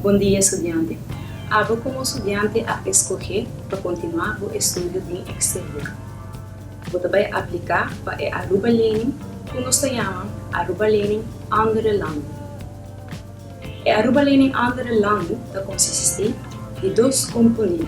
Bondia estudiante. Abo komo studiante a eskohé pa kontinuá bo estudio den eksterior. Bo ta bai apliká pa e Aruba Lening ku nos ta yama Aruba Lening Andere Landen. E Aruba Lening Andere Landen ta konsistí di dos komponente.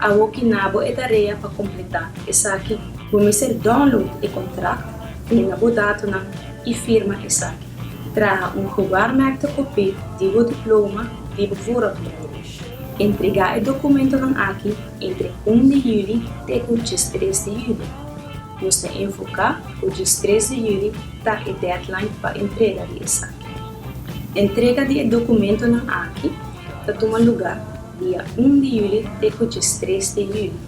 A bo ki na bo e tarea pa kompletá esaki, bo mester download e kontrakt den na bo datonan i firma esaki. Traha un gewaarmerkte kopí di bo diploma di bo vooropleiding. Entregá e dokumentonan aki entre un di juli te ku djes tres di juli. Nos ta enfoká ku djes tres di juli ta e deadline pa entrega di esaki. Entrega di e dokumentonan aki ta tuma lugá. Dia un di yuli te ku djes tres de yuli.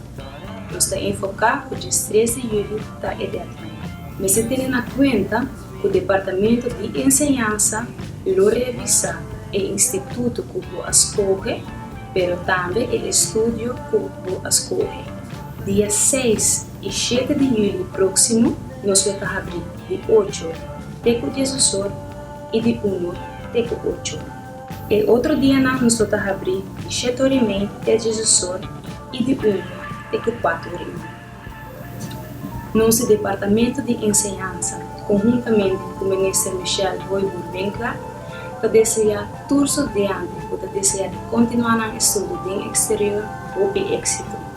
Nos ta enfoká ku djes tres de yuli ta e dètnan. Mester tene na kuenta ku Departamentu di Enseñansa lo revisá e instituto ku bo a skohe, pero tambe e estudio ku bo a skohe. Dia seis i shete di yuli próksimo nos lo ta habrí di ocho te ku diesosor i di unu te ku ocho. E otro dianan nos lo ta habrí di shet ora i mei te djes usor i di unu te ku kuatu ora i mei. Nos Departamentu di Enseñansa, konhuntamente ku Minister Michelle Royboer-Winklaar, ta deseá tur sudiante ku ta deseá di kontinuá nan estudio den eksterior hopi éksito.